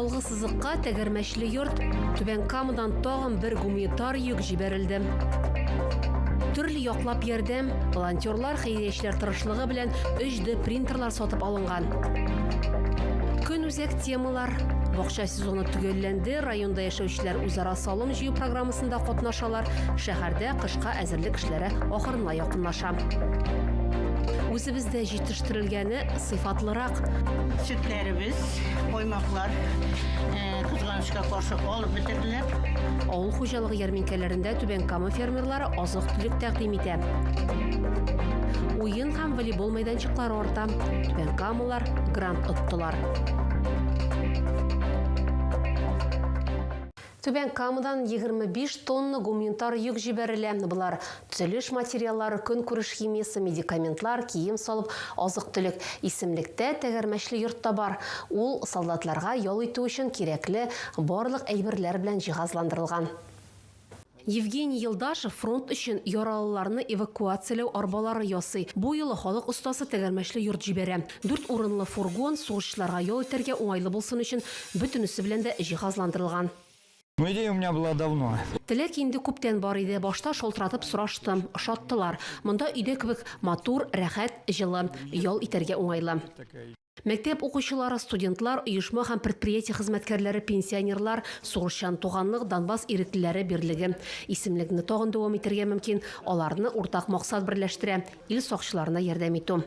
Алгы сызыкка тәгәрмәчле йорт, Түбән Камадан тагын бер гуманитар йөк җибәрелде. Төрле яклап ярдәм, волонтерлар, хәйриячеләр тырышлыгы белән 3D принтерлар сатып алынган. Көнүзәк темалар, бакча сезоны төгәлләнде, районда яшәүчеләр үзара салым җыю программасында катнашалар, шәһәрдә кышка әзерлек эшләре ахырына якынлаша. Үзебездә җитештерелгәне сыйфатлырак. Сөтләребез, коймаклар кызганычка каршы алып бетерделәр. Авыл хуҗалыгы ярминкәләрендә Түбән Кама фермерлары азык-төлек тәкъдим итә. Уен һәм волейбол мәйданчыклары арта. Түбән Камалар грант оттылар. Түбән Камадан егерме биш тонна гумнитар йөк җибәрелә. Болар, төзелеш материаллары, көнкүреш химиясе, медикаментлар, кием-салым, азык-төлек. Исемлектә тәгәрмәчле йорт та бар. Ул солдатларга ял итү өчен кирәкле барлык әйберләр белән җиһазландырылган. Евгений Елдашев фронт өчен яралыларны эвакуацияләү арбалары ясый. Бу юлы халык остасы тәгәрмәчле йорт җибәрә. Дүрт урынлы фургон сугышчыларга ял итәргә уңайлы булсын өчен бөтенесе белән дә җиһазландырылган. Ну идея у меня была давно. Теләк инде күптән бар иде, башта шалтыратып сораштым, ошаттылар. Монда өйдә кебек матур, рәхәт, җылы, ял итәргә уңайлы. Мәктәп укучылары, студентлар, оешма һәм предприятие хезмәткәрләре, пенсионерлар, Сугышчан туганлык, Донбасс иреклеләре берлеге. Исемлекне тагын дәвам итәргә мөмкин, аларны уртак максат берләштерә, ил сакчыларына ярдәм итү.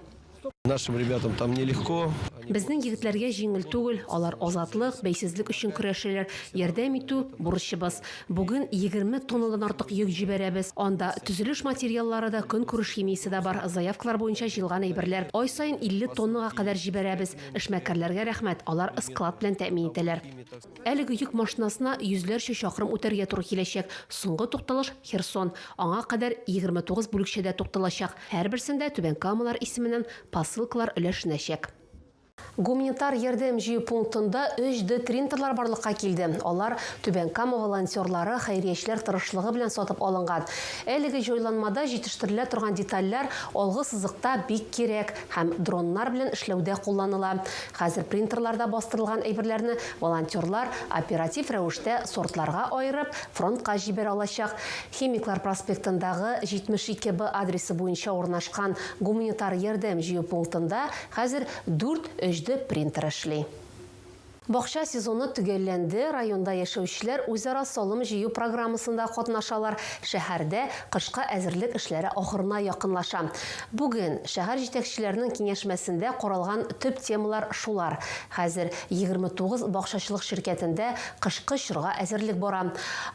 Нашим ребятам там нелегко. Безнең егетләргә җиңел түгел, алар азатлык, бәйсезлек өчен көрәшәләр. Ярдәм итү, бурычыбыз. Бүген 20 тоннадан артык йөк җибәрәбез. Анда төзелеш материаллары да, көнкүреш химиясе дә бар. Заявкалар буенча җыелган әйберләр. Ай саен 50 тоннага кадәр җибәрәбез. Эшмәкәрләргә рәхмәт, алар склад белән тәэмин итәләр. Әлеге йөк машинасына йөзләрчә чакрым үтәргә туры киләчәк. Соңгы тукталыш, Херсон. Аңа кадәр 29 бүлекчәдә тукталачак. Һәрберсендә Түбән Камалар исеменнән посылкалар өләшенәчәк. Гуманитар ярдәм җыю пунктында 3D тринтерлар барлыкка килде. Алар Түбән Кама волонтерлары, хәйриячеләр тырышлыгы белән сатып алынган. Әлеге җайланмада җитештерелә торган детальләр алгы сызыкта бик кирәк. һәм дроннар белән эшләүдә кулланыла. Хәзер принтерларда бастырылган әйберләрне волонтерлар, оператив рәвештә сортларга аерып, фронтка җибәрә алачак. Химиклар проспектындагы 72 Б адресы буенча урнашкан гуманитар ярдәм җыю пунктында хәзер дүрт HD принтер эшли. Бакча сезоны төгәлләнде, районда яшәүчеләр үзара салым җыю программасында катнашалар, шәһәрдә кышка әзерлек эшләре ахырына якынлаша. Бүген шәһәр җитәкчеләренең киңәшмәсендә каралган төп темалар шулар. Хәзер 29 бакчачылык ширкәтендә кышкы чорга әзерлек бара.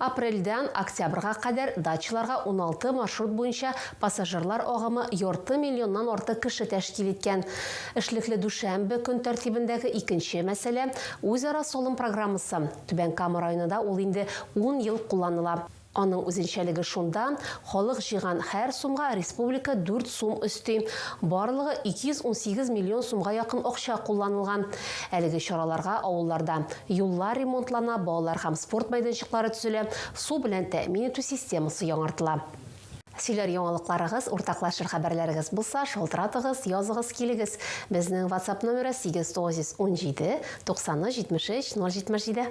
Апрельдән октябрьга кадәр дачаларга 16 маршрут буенча пассажирлар агымы ярты миллионнан артык кеше тәшкил иткән. Эшлекле дүшәмбе көн тәртибендәге икенче мәсьәлә, үзара салым программасы. Түбән Кама районында ул инде ун ел кулланыла. Аның үзенчәлеге шунда, халык җыйган һәр сумга республика дүрт сум өсти. Барлыгы 218 миллион сумга якын акча кулланылган. Әлеге чараларга авылларда юллар ремонтлана, балалар һәм спорт мәйданчыклары төзелә, су белән тәэмин итү системасы яңартыла. Сөйләр яңалыкларыгыз, уртаклашыр хәбәрләрегез булса, шалтыратыгыз, языгыз килегез. Безнең ватсап номеры 717 90 73 077.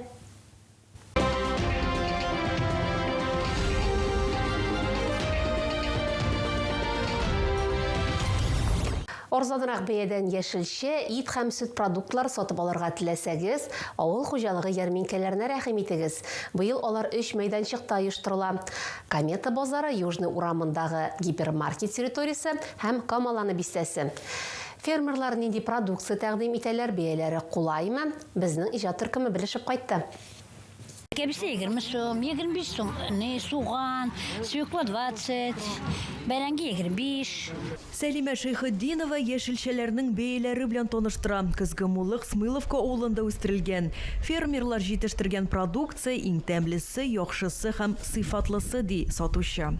Арзанрак бәядән яшелчә, ит һәм сөт продуктлар сатып алырга теләсәгез, авыл хуҗалыгы ярминкәләренә рәхим итегез. Быел алар өч мәйданчыкта оештырыла. Комета базары, Южный урамындагы гипермаркет территориясе һәм Камаланы бистәсе. Фермерлар нинди продукция тәкъдим итәләр, бәяләре кулаймы? Безнең иҗат төркеме белешеп кайтты. Кәбестә егерме сум, егерме биш сум, ни, суган, свекла двадцать, бәрәңге егерме биш. Сәлимә Шәйхетдинова яшелчәләрнең бәяләре белән таныштыра. Көзге муллык Смыловка авылында үстерелгән. Фермерлар җитештергән продукция, иң тәмлесе, яхшысы һәм сыйфатлысы, ди сатучы.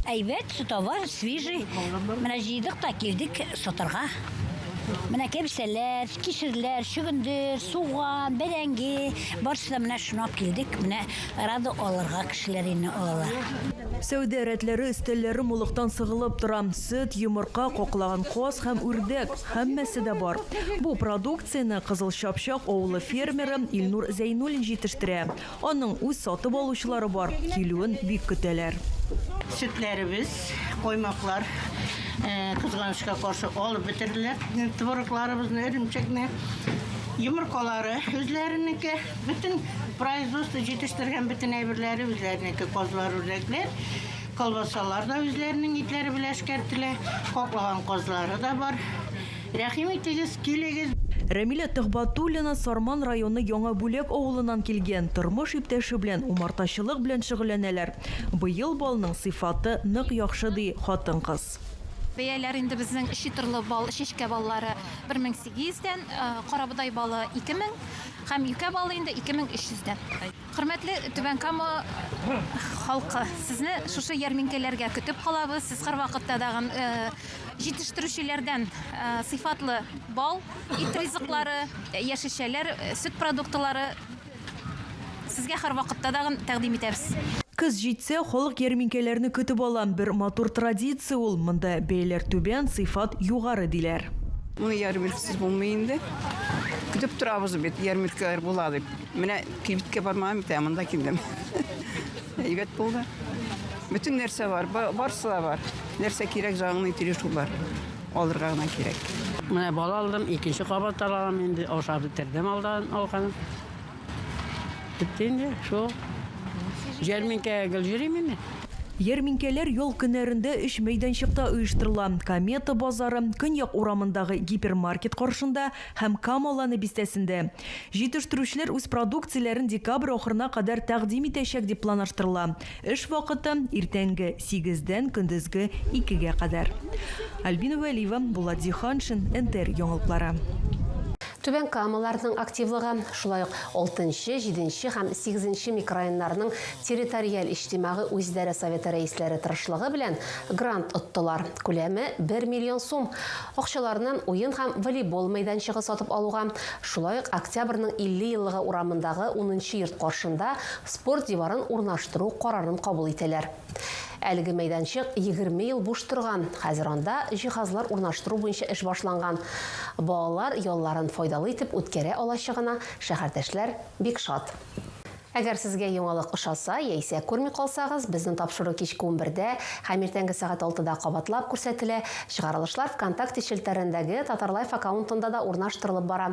Әйбәт, товар свежий. Менә җыйдык та килдек сатарга. Менә кәбестәләр, кишерләр, чөгендер, суган, бәрәңге, барысы да менә шуны алып килдек. Менә Арада алырга кешеләр инде алалар. Сәүдә рәтләре өстәлләре мулыктан сыгылып тора. Сөт, йомырка, каклаган каз һәм үрдәк, һәммәсе дә бар. Бу продукцияне Кызыл Чапчак авылы фермеры Илнур Зәйнуллин җитештерә. Аның үз сатып алучылары бар, килүен бик көтәләр. Сөтләребез, коймаклар, кызганычка каршы, алып бетерделәр. Творогларыбызны, эремчекне, йомыркалары үзләренеке. Бөтен производство җитештергән бөтен әйберләре үзләренеке, казлар, үрдәкләр. Колбасалар да үзләренең итләре белән эшкәртелә. Каклаган казлары да бар. Рәхим итегез, килегез. Рәмилә Төхбатуллина Сарман районы Яңа Бүләк авылыннан килгән. Тормыш иптәше белән умартачылык белән шөгыльләнәләр. Быел балның сыйфаты нык яхшы, ди хатын-кыз. Бәяләр инде безнең читырлы бал, чәчкә баллары 1800 дән, карабодай балы 2000. Һәм юкә балы инде 2300 дән. Хөрмәтле Түбән Кама халкы, сезне шушы ярминкәләргә көтеп калабыз. Сез һәрвакытта да җитештерүчеләрдән сыйфатлы бал, ит ризыклары, яшелчәләр, сөт продуктлары сезгә һәрвакытта да тәкъдим итәбез. Көз җитсә, халык ярминкәләрне көтеп ала. Бер матур традиция ул. Монда бәяләр түбән, сыйфат югары, диләр. Моны ярминкәсез булмый инде. Көтеп торабыз бит, ярмаркалар була дип. Менә кибеткә бармаган бит, ә монда килдем. Әйбәт булды. Бөтен нәрсә бар, барысы да бар. Нәрсә кирәк, җаныңны тиреш бар. Алырга гына кирәк. Менә бал алдым, икенче кабат алам инде, ашап бетердем алдан алган. Бетте инде, шул. Җәрминкәгә гел йөрим инде. Ярминкәләр ял көннәрендә өч мәйданчыкта оештырыла, Комета базары, Көньяк урамындагы гипермаркет каршында һәм Кама Ланы бистәсендә. Җитештерүчеләр үз продукцияләрен декабрь ахырына кадәр тәкъдим итәчәк дип планаштырыла. Эш вакыты, иртәнге сигездән көндезге икегә кадәр. Альбина Вәлиева, Булат Зиһаншин, НТР яңалыклары. Түбән Камаларның активлыгы, шулай ук алтынчы, җиденче һәм сигезенче микрорайоннарның территориаль иҗтимагый үзидарә советы рәисләре тырышлыгы белән грант оттылар, күләме бер миллион сум. Акчаларны уен һәм волейбол мәйданчыгы сатып алуга, шулай ук Октябрьнең 50 еллыгы урамындагы унынчы йорт каршында спорт диварын урнаштыру карарын кабул итәләр. Әлеге мәйданчык егерме ел буш торган, хәзер анда җиһазлар урнаштыру буенча эш башланган. Балалар ялларын файдалы итеп үткәрә алачагына шәһәрдәшләр бик шат. Әгәр сезгә яңалык ошаса яисә күрми калсагыз, безнең тапшыру кичке унбердә һәм иртәнге сәгать алтыда кабатлап күрсәтелә, чыгарылышлар ВКонтакте челтәрендәге Татарлайф аккаунтында да урнаштырылып бара.